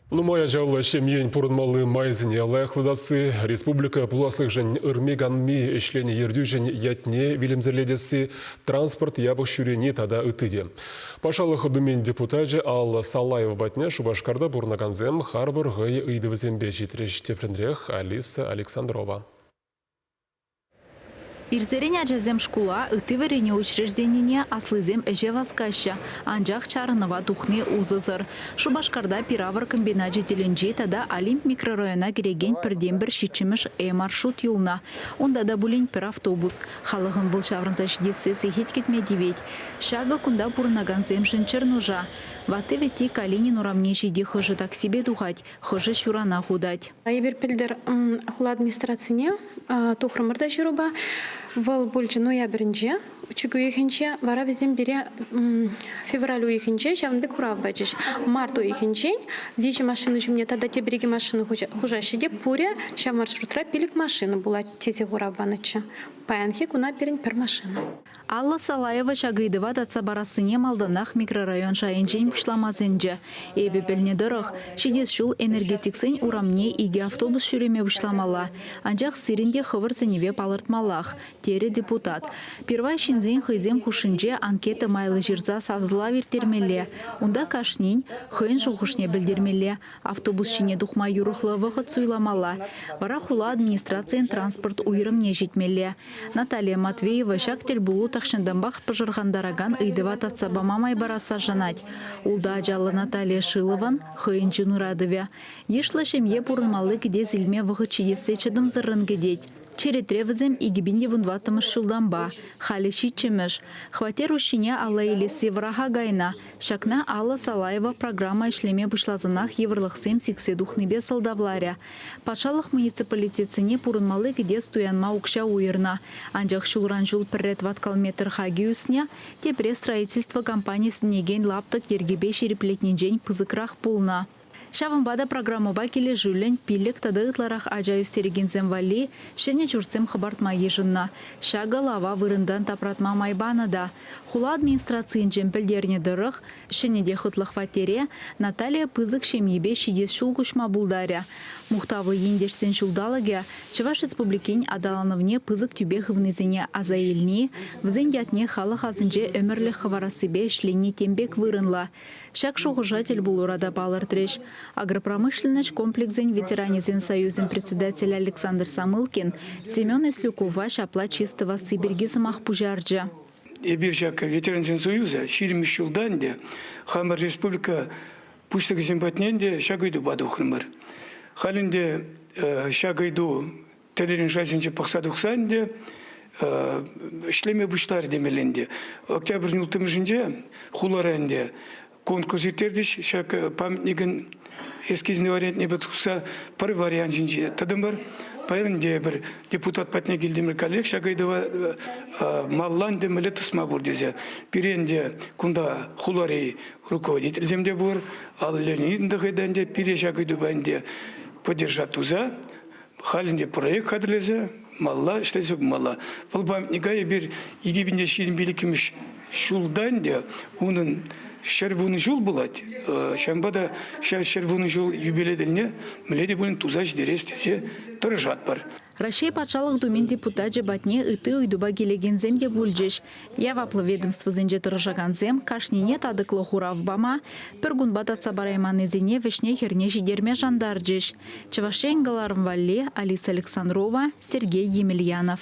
Нумай ачаллӑ ҫемьен пурӑнмалли майсене лайӑхлатасси, республика пуласлӑхӗшӗн ырми-канми ӗҫленӗ ертӳҫӗн ятне вилӗмсӗрлетесси, транспорт япӑх ҫӳрени тата ытти те. Патшалӑх Думин депутачӗ Алла Салаева патне Шупашкарта пурӑнакансем харпӑр хӑй ыйтӑвӗсемпе ҫитрӗҫ, тепринрех Алиса Александрова. Ирсерен ачасем шкула ытти вӗренӳ учрежденине аслисем ӗҫе васкаҫҫӗ, анчах чарӑнӑва тухни усӑсӑр. Шупашкарта пир-авӑр комбиначӗ тӗлӗнчи тата Олимп микрорайона кӗрекен пӗртен-пӗр ҫиччӗмӗш E-маршрут юлнӑ. Унта та пулин пӗр автобус. Халӑхӑн вӑл ҫаврӑнса ҫитессе сехет кӗтме тивет. Ҫакӑ кунта пурӑнакансемшӗн чӗр нуша. Ватти-вӗтти Калинин урамне ҫити хӑшӗ таксипе тухать, хӑшӗ ҫуранах утать. Эпир пӗлтӗр хула администрацине тухрӑмӑр та ҫырупа. Вӑл пулчӗ ноябрӗнче, чӳк уйӑхӗнче, вара вӗсем пире февраль уйӑхӗнче ҫавӑн пек хурав пачӗҫ. Март уйӑхӗнчен виҫӗ машина ҫумне тата тепӗр икӗ машина хушаҫҫӗ те пурӗ ҫав маршрутра пилӗк машина пулать тесе хурав панӑччӗ. Паянхи куна пирӗн пӗр машина. Алла Салаева ҫак ыйтӑва татса парассине малтанах микрорайон шайӗнчен пуҫлама сӗнчӗ. Эпӗ пӗлнӗ тӑрӑх, ҫитес ҫул энергетиксен урамне икӗ автобус ҫӳреме пуҫламалла, анчах сирӗн те хӑвӑр сӗнӗве палӑртмаллах, терӗ депутат. Пирвай ҫынсен хӑйсем хушшинче анкета майлӑ ҫырса сасӑлав ирттермелле, унта кашнин хӑйӗн шухӑшне пӗлтермелле, Автобус ҫине тухма юрӑхлӑ вӑхӑт суйламалла, вара хула администрацийӗн транспорт уйрӑмне ҫитмелле. Наталия Матвеева ҫак тӗлпулу тахҫантанпах пӑшӑрхантаракан ыйтӑва татса пама май парасса шанать. Ултӑ ачаллӑ Наталия Шилован, хӑйӗн чун ыратӑвӗ. Йышлӑ ҫемье пурӑнмалли кӗтес илме вӑхӑт ҫитессе чӑтӑмсӑррӑн кӗтет. Черетре вӗсем икӗ пин те вун тӑваттӑмӗш ҫултанпа, халӗ ҫиччӗмӗш. Хваттер уҫҫине алла илесси вӑраха кайнӑ, Ҫакна Алла Салаева программа ӗҫлеме пуҫласанах йывӑрлӑхсем сиксе тухнипе сӑлтавларӗ. Патшалӑх муниципалитетсене пурӑнмалли кӗтес туянма укҫа уйӑрнӑ, анчах ҫулран-ҫул пӗрре тӑваткал метр хаки ӳснӗ, тепре строительство компанийӗ сӗнекен лаптӑк йӗркипе ҫирӗплетнинчен пысӑкрах пулнӑ. Ҫавӑнпа та программӑпа килӗшӳллӗн пиллӗк тата ытларах ача ӳстерекенсем валли ҫӗнӗ ҫуртсем хӑпартма йышӑннӑ. Ҫакӑ лава вырӑнтан тапратма май панӑ та. Хула администрацийӗнчен пӗлтернӗ тӑрӑх, ҫӗнӗ те хӑтлӑ хваттере Наталия пысӑк ҫемйипе ҫитес ҫул куҫма пултарӗ. Мухтавлӑ ентешсен ҫулталӑкӗ Чӑваш Республикин аталанӑвне пысӑк тӳпе хывнисене аса илни, вӗсен ятне халӑх асӗнче ӗмӗрлӗх хӑварассипе ӗҫлени тем пек вырӑнлӑ. Ҫак шухӑша тӗлпулура та палӑртрӗҫ агропромышленноҫ комплексӗн ветеранӗсен союзӗн председателӗ Александр Самылкин Семен Еслюкова ҫапла чыс тӑвасси пирки сӑмах пуҫарчӗ. Эпир ҫак ветерансен союза ҫирӗммӗш ҫултан те хамӑр республика пуҫлӑхӗсем патне те ҫак ыйтупа тухрӑмӑр. Халь ӗнтӗ ҫак ыйту тӗлӗрен шайсенче пӑхса тухсан те ӗҫлеме пуҫларӗ темелле ӗнтӗ. Октябрь улттӑмӗшӗнче хулара ӗнтӗ конкурс ирттерчӗҫ. Ҫак памятникӗн эскизне вариантнепе тухса пӗр вариант ҫинче тӑтӑмӑр. Паян ӗнтӗ пӗр депутат патне килтӗмӗр каллех ҫак ыйтӑва маллан мӗле тӑсма пур тесе. Пире ӗнтӗ кунта хулари руководительсем те пур, Алла Леонидовна та ӗнтӗ пире ҫак ыйтупа ӗнтӗ поддержать туса Халь ӗнтӗ проект хатӗрлесе малла ӗҫлесе пымалла. Вӑл памятника эпир икӗ пин те ҫирӗм иккӗмӗш ҫулта ӗнтӗ унӑн ҫӗр вунӑ ҫул пулать. Ҫавӑнпа та ҫав ҫӗр вунӑ ҫул юбилей тӗлне мӗнле те пулин туса ҫитерес тесе тӑрӑшатпӑр. Раҫҫей Патшалӑх Думин депутачӗ патне ытти ыйтупа килекенсем те пулчӗҫ. Яваплӑ ведомствӑсенче тӑрӑшакансем кашнине татӑклӑ хурав пама, пӗр кунпа татса парайманнисене вӗҫне-хӗрне ҫитерме шантарчӗҫ Чӑваш Ен кӑларӑм валли Алиса Александрова, Сергей Емельянов.